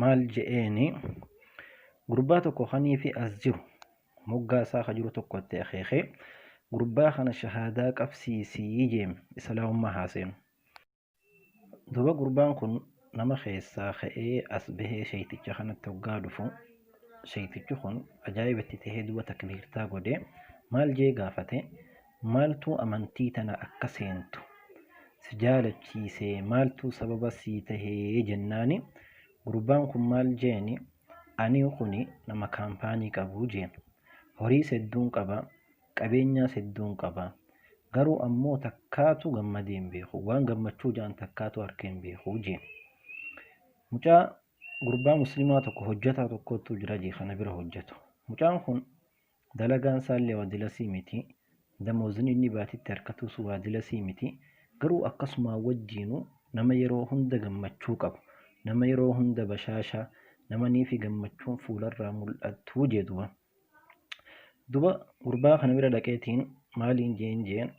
maal je'eeni gurbaa tokko kaniifi as jiru moggaa isaa ka jiru tokko itti akeeke gurbaa kana shahaadaa qabsiisii jeem islaamummaa haa seenu duba gurbaan kun nama keessaa ka'ee as bahee sheeyticha kanatti hoggaa dhufu sheeytichi kun ajaa'iba itti tahee duba takbiirtaa godhe maal jee gaafate maaltuu amantii tana akka seentu si jaalachiise maaltuu sababa sii tahe jennaani gurbaan kun maal jeeni ani kuni nama kaampaanii qabu jeen horiis hedduun qaba qabeenyaas hedduun qaba garuu ammoo takkaatu gammadee hin beeku waan gammachuu ja'an takkaatu arkee hin beeku jeen mucaa gurbaa muslimaa tokko hojjataa tokkoottuu jira jee kana bira hojjatu mucaan kun Dalagaan isaallee waadila sii miti. Damoozin inni baatiitti arkatuus waadila sii miti. Garuu akkasumaa wajjiinuu nama yeroo hunda gammachuu qabu, nama yeroo hunda bashaasha, nama niifi gammachuun fuularraa mul'attu jee duba. Duba gurbaa kana bira dhaqeetiin maaliin jeen jeen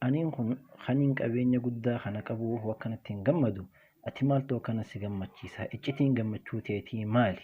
aniin kun kaniin qabeenya guddaa kana qabuu hoo akkanatti hin gammadu ati maaltu akkana si gammachiisa iccitiin gammachuu teetii maali?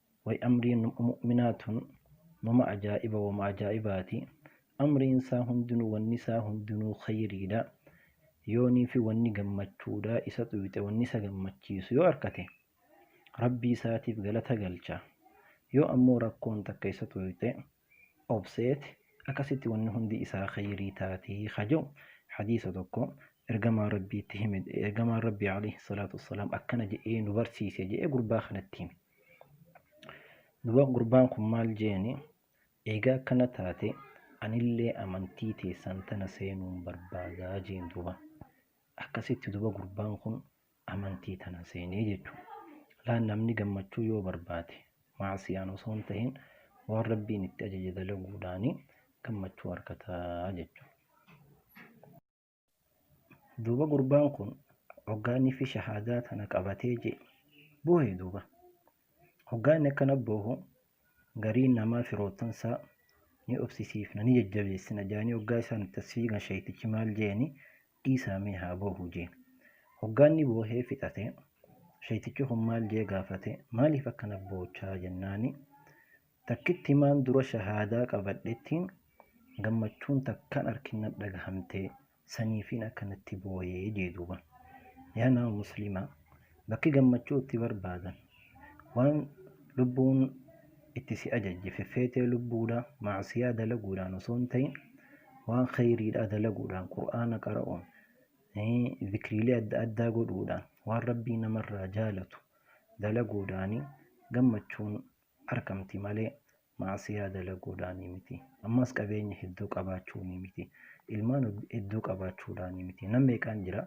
way amriin mu'minaa tun nama ajaa'iba wama ajaa'ibaati amriin isaa hundinuu wanni isaa hundinuu khayriidha yooniifi wanni gammachuudha isa xuyxe wanni isa gammachiisu yoo arkate rabbii isaatiif galata galcha yoo ammoo rakkoon takka isa xuyxe obseet akkasitti wanni hundi isaa khayrii taati ka je'u hadiisa tokko ergamaa rabbiitti hime ergamaan rabbii alayhi salaatu wassalaam akkana je'ee nu barsiise je'ee gurbaa kanatti hime duba gurbaan kun maal jeeni eegaa akkana taate anillee amantii teessan tana seenuun barbaadaa jeen duba akkasitti duba gurbaan kun amantii tana seene jechu. Laa namni gammachuu yoo barbaade ma'asiyaan osoo hin tahin waan Rabbiin itti ajaje dalaguudhaani gammachuu argata jechu. Duuba gurbaan kun hoggaa inni fi shahaadaa tana qabatee je boohe duuba. Hoggaa inni akkana boohu gariin namaa firoottan isaa ni obsisiifna ni jajjabeessina jedhanii hoggaa isaan itti as fiigan shayxichi maal jeeni dhiisaa mee haa boohu jee. Hoggaa inni boohee fixate, sheyxichi kun maal jee gaafate, maaliif akkana boochaa jennaani, takkittimaan dura shahaadaa qabadhetti gammachuun takkaan arkin nat dhagahamte, saniifiin akkanatti booye jee duuba. Yaa nama Muslima! Bakki gammachuu itti barbaadan. Waan lubbuun itti si ajajje feffeetee lubbuudha ma'asiyaa dalaguudhaan osoo hin ta'in waan kheyriidhaa dalaguudhaan qur'aana qara'uun zikriilee adda addaa godhuudhaan waan rabbii namarraa jaalatu dalaguudhaani gammachuun argamti malee ma'asiyaa dalaguudhaani miti ammas qabeenya hedduu qabaachuuni miti ilmaan hedduu qabaachuudhaani miti nam meeqaan jira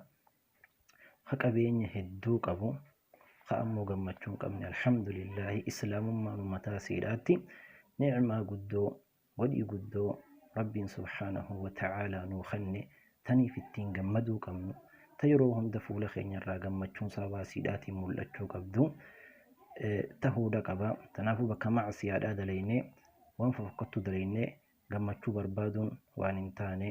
ka qabeenya hedduu qabu ka ammoo gammachuu hin qabne alhamdulillaahi islaamummaan mataa siidhaatti ni'maa guddoo godhii guddoo rabbiin subhaanahu wa ta'aalaa nuu kenne taniif ittiin gammaduu qabnu ta yeroo hunda fuula keenyarraa gammachuun sababaa siidhaatiin mul'achuu qabdu tahuudha qaba tanaafuu bakka macsiyaadhaa dalaynee waan fafakkattuu dalaynee gammachuu barbaaduun waan hin taane